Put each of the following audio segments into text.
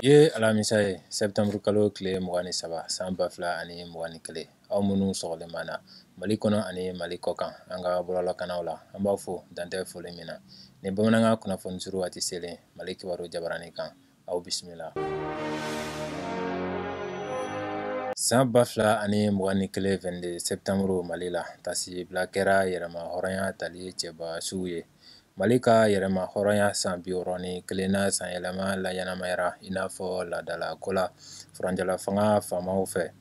ye alamisa ye sɛtanburu kalo tile mugan ni saba san ba fila ani mugan ni kelen aw minnu sɔgɔlen b'an na mali kɔnɔ ani mali kɔkan an ka bɔlɔlɔkanaw la an b'a fo dantɛ foli min na ni bamanankan kunnafoni suru waati selen mali kibaru jabarani kan aw bisimila san ba fila ani mugan ni kelen vingt-deux septembre mali la tasibila kɛra yɛrɛma hɔrɔnya tali cɛba suw ye mali ka yɛrɛma hɔrɔnya san bi wɔɔrɔ ni kelennan sanyɛlɛma laɲɛnamayara i n'a fɔ laadala ko la furancɛla fanga faamaw fɛ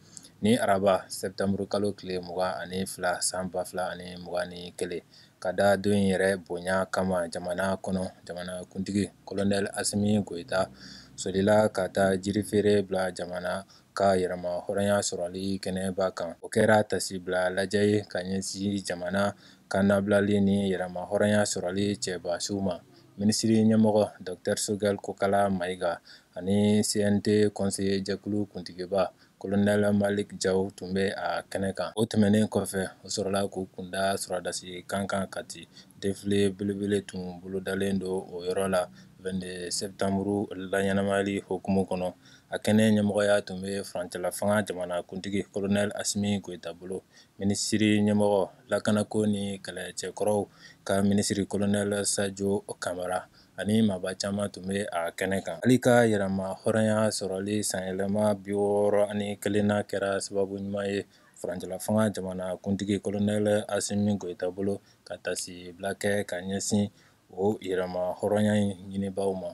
ni araba sɛtanburu kalo tile mugan ani fila san ba fila ani mugan ni kelen ka da don yɛrɛ bonya kama jamana kɔnɔ jamanakuntigi kolonɛli asimi goyita solila ka taa jiri feere bila jamana ka yɛrɛma hɔrɔnya sɔrɔli kɛnɛba kan o kɛra tasibila lajɛ ye ka ɲɛsin jamana ka nabilali ni yɛrɛma hɔrɔnya sɔrɔli cɛba suw ma minisiri ɲɛmɔgɔ docteur sogɛli kokala mayiga ani CNT kɔnseye jɛkulu kuntigiba Kolonɛli maliki jaw tun bɛ a kɛnɛ kan o tɛmɛnen kɔfɛ o sɔrɔla k'u kunda sɔrɔdasi kan kan kati defile belebele tun bolodalen don o yɔrɔ la vingt-deux septembre laɲɛnamayali hukumu kɔnɔ a kɛnɛ ɲɛmɔgɔya tun bɛ furancɛla fanga jamanakuntigi kolonɛli asimi goyita bolo minisiri ɲɛmɔgɔ lakanako ni kɛlɛcɛkɔrɔw ka minisiri kolonɛli sajo kamara ani maaba caman tun bɛ a kɛnɛ kan mali ka yɛrɛma hɔrɔnya sɔrɔli sanyɛlɛma bi wɔɔrɔ ani kelennan kɛra sababu ɲuman ye furancɛla fanga jamana kuntigi kolonɛli asimi goyita bolo ka tasibila kɛ ka ɲɛsin o yɛrɛma hɔrɔnya in ɲinibaaw ma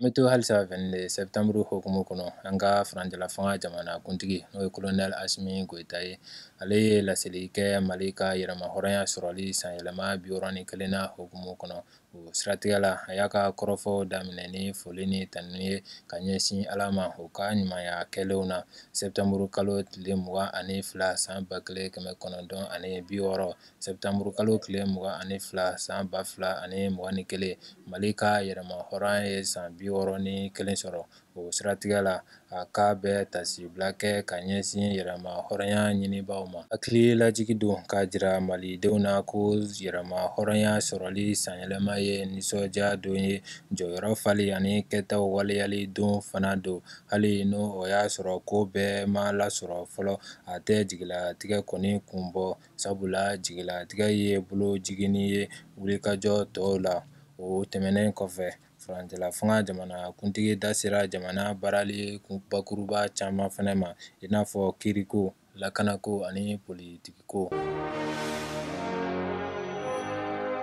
an bɛ to halisa vingt-deux septembre hukumu kɔnɔ an ka furancɛla fanga jamana kuntigi n'o ye kolonɛli asimi goyita ye ale ye laseli kɛ mali ka yɛrɛma hɔrɔnya sɔrɔli sanyɛlɛma bi wɔɔrɔ ni kelennan hukumu kɔnɔ o siratigɛ la a y'a ka kɔrɔfɔw daminɛ ni foli ni tanu ye ka ɲɛsin ala ma u ka ɲumanya kɛlenw na sɛtanburu kalo tile mugan ani fila san ba kelen kɛmɛ kɔnɔntɔn ani bi wɔɔrɔ sɛtanburu kalo tile mugan ani fila san ba fila ani mugan ni kelen mali ka yɛrɛma hɔrɔnya ye san bi wɔɔrɔ ni kelen sɔrɔ o siratigɛ la a k'a bɛ tasibila kɛ ka ɲɛsin yɛrɛma hɔrɔnya ɲinibaaw ma hakili lajigi don k'a jira malidenw na ko yɛrɛma hɔrɔnya sɔrɔli sanyɛlɛma ye nisɔndiya don ye jɔyɔrɔ fali ani kɛtaw waleyali don fana don hali ni o y'a sɔrɔ ko bɛɛ ma lasɔrɔ fɔlɔ a tɛ jigilatigɛ kɔni kun bɔ sabula jigilatigɛ ye bolo jiginni ye wulikajɔ tɔw la o tɛmɛnen kɔfɛ Furancɛla fanga jamana kuntigi da sera jamana baarali bakuruba caman fana ma i n'a fɔ kiiriko lakanako ani politikiko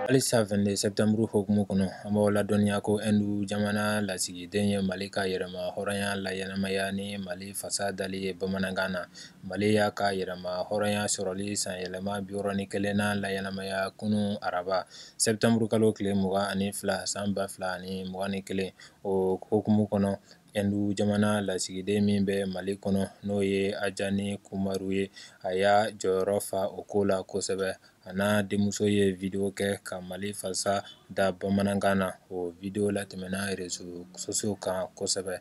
halisa 22 septembre hukumu kɔnɔ an b'aw ladɔnniya ko ɛndu jamana lasigiden ye mali ka yɛrɛmahɔrɔnya laɲɛnamaya ni mali fasa dali ye bamanankan na mali y'a ka yɛrɛmahɔrɔnya sɔrɔli sanyɛlɛma biwɔɔrɔ ni kelennan laɲɛnamaya kunun araba sɛtanburukalo tile mugan ani fila san ba fila ani mugan ni kelen o hukumu kɔnɔ ɛndu jamana lasigiden min bɛ mali kɔnɔ n'o ye anjani kumar ye a y'a jɔyɔrɔ fa o ko la kosɛbɛ a n'a denmuso ye video kɛ ka mali fasa da bamanankan na o video latɛmɛna réseaux sociaux kan kosɛbɛ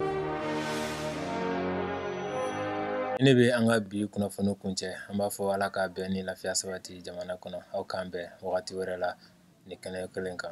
ne bɛ an ka bi kunnafoni kuncɛ an b'a fɔ ala ka bɛn ni lafiya sabati jamana kɔnɔ aw k'an bɛn wagati wɛrɛ la nin kɛnɛ kelen kan